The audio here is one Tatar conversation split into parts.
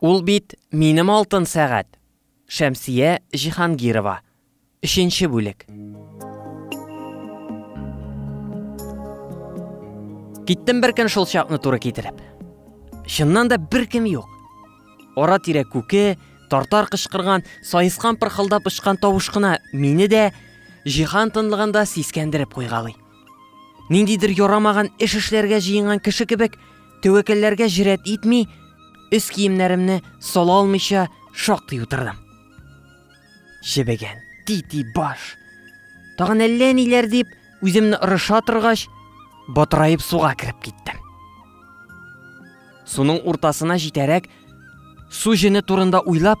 Ул бит минем алтын сәгать. Шәмсия Җиһангирова. Өченче бүлек. Киттем бер көн шул чакны туры китереп. Чыннан да бер кем юк. Ара тирә күке, тартар кычкырган, саескан пырхылдап очкан тавыш кына мине дә җиһан тынлыгында сискәндереп куйгалый. Ниндидер ярамаган эш эшләргә җыенган кеше кебек, тәвәкәлләргә җөрьәт итми, өс киемнәремне сала алмыйча шактый утырдым. Чебегән, тити баш. Тагын әллә ниләр дип, үземне ырыша торгач, батыраеп суга кереп киттем. Суның уртасына җитәрәк, су җене турында уйлап,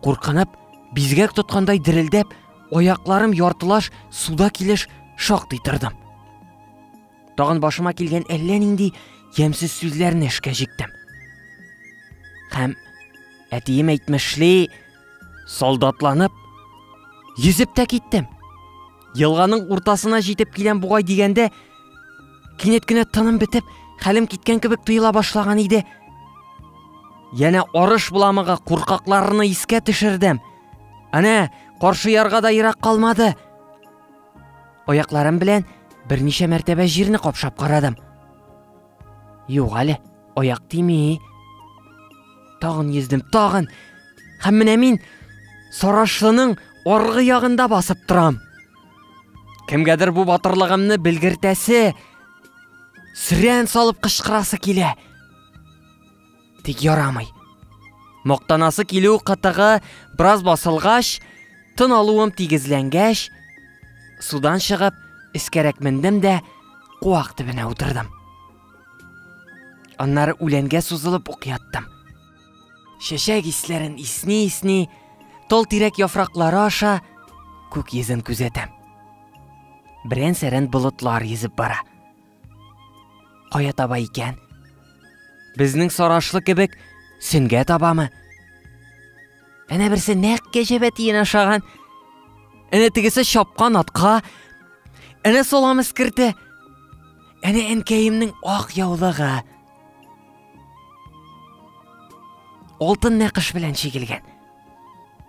Куркынып, бизгәк тоткандай дерелдәп, аякларым яртылаш суда килеш шактый тордым. Тагын башыма килгән әллә нинди ямьсез сүзләрне эшкә җиктем. Һәм әтием әйтмешли, солдатланып, йөзеп тә киттем. Елганың уртасына җитеп киләм бугай дигәндә, кинәт кенә тыным бетеп, хәлем киткән кебек тоела башлаган иде. Янә арыш буламыгы куркакларны искә төшердем. Әнә, каршы ярга да ерак калмады. Аякларым белән берничә мәртәбә җирне капшап карадым. Юк әле, аяк тими. Тагын йөздем, тагын. Һәм менә мин сарашлының аргы ягында басып торам. Кемгәдер бу батырлыгымны белгертәсе, сөрән салып кычкырасы килә. Тик ярамый. Мактанасы килү кытыгы бераз басылгач, тын алуым тигезләнгәч, судан чыгып, эскәрәк мендем дә куак төбенә утырдым. Аннары үләнгә сузылып ук яттым. Чәчәк исләрен исни-исни, тол тирәк яфраклары аша күк йөзен күзәтәм. Берән-сәрән болытлар йөзеп бара. Кая таба икән? Безнең сарашлы кебек сөнгә табамы? Әнә берсе нәкъ кәҗәбә тиен ашаган. Әнә тегесе чапкан атка. Әнә салам эскерте. Әнә әнкәемнең ак яулыгы. Алтын нәкыш белән чигелгән.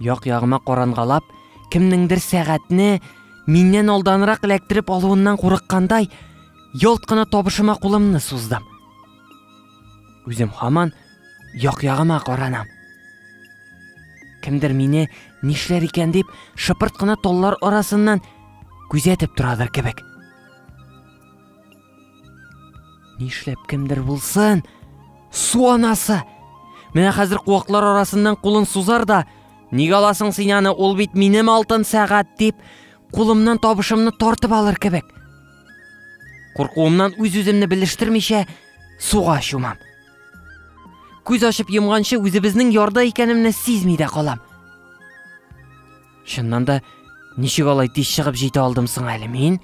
Як-ягыма карангалап, кемнеңдер сәгатьне миннән алданрак эләктереп алуыннан курыккандай, ялт кына табышыма кулымны суздым. Үзем хаман як-ягыма каранам. Кемдер мине нишләр икән дип шыпырт кына таллар арасыннан күзәтеп торадыр кебек. Нишләп кемдер булсын? Су анасы! Менә хәзер куаклар арасыннан кулын сузар да, ник аласың син аны, ул бит минем алтын сәгать дип, кулымнан табышымны тартып алыр кебек. Куркуымнан үз-үземне белештермичә суга чумам. Күз ачып йомганчы үзебезнең ярда икәнемне сизми дә калам. Чыннан да, ничек алай тиз чыгып җитә алдым соң әле мин?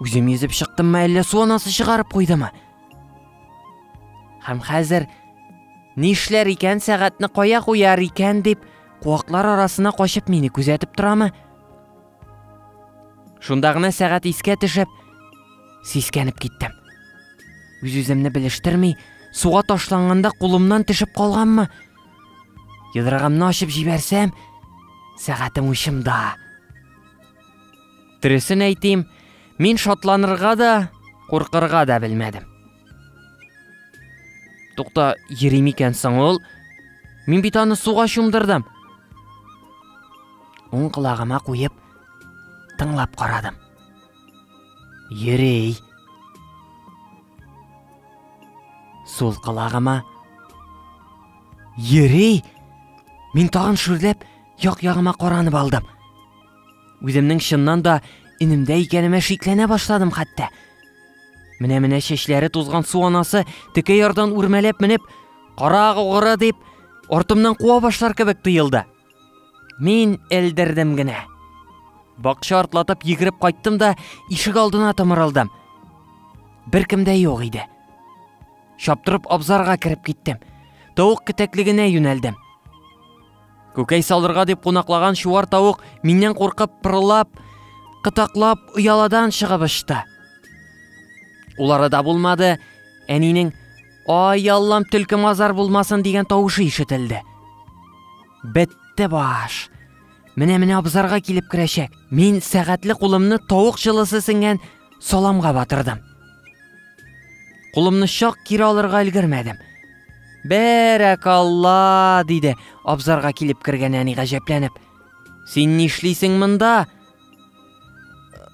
Үзем йөзеп чыктыммы, әллә су анасы чыгарып куйдымы? Һәм хәзер нишләр икән, сәгатьне кая куяр икән дип, куаклар арасына качып мине күзәтеп торамы? Шунда гына сәгать искә төшеп, сискәнеп киттем. Үз-үземне белештерми, суга ташланганда кулымнан төшеп калганмы? Йодрыгымны ачып җибәрсәм, сәгатем учымда. Дөресен әйтим, мин шатланырга да, куркырга да белмәдем. Тукта, йөри микән соң ул? Мин бит аны суга чумдырдым. Уң колагыма куеп, тыңлап карадым. Йөри. Сул колагыма. Йөри. Мин тагын шүрләп, як-ягыма каранып алдым. Үземнең чыннан да инемдә икәнемә шикләнә башладым хәтта. Менә-менә чәчләре тузган су анасы теке ярдан үрмәләп менеп, караг угыры дип, артымнан куа башлар кебек тоелды. Мин элдердем генә. Бакча артлатып йөгереп кайттым да ишек алдына томырылдым. Беркем дә юк иде. Чаптырып абзарга кереп киттем. Тавык китәклегенә юнәлдем. Күкәй салырга дип кунаклаган чуар тавык миннән куркып пырылап, кытаклап ояладан чыгып очты. Улары да булмады, әнинең Ай, Аллам, төлке мазар булмасын дигән тавышы ишетелде. Бетте баш. Менә менә абзарга килеп керәчәк. Мин сәгатьле кулымны тавык җылысы сеңгән саламга батырдым. Кулымны чак кире алырга өлгермәдем. Бәрәкалла, диде абзарга килеп кергән әни гаҗәпләнеп. Син нишлисең монда?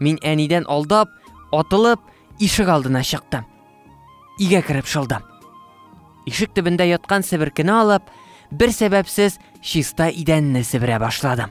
Мин әнидән алдап, атылып, ишек алдына чыктым. Игә кереп шылдым. Ишек төбендә яткан себеркене алып, бер сәбәпсез чиста идәнне себерә башладым.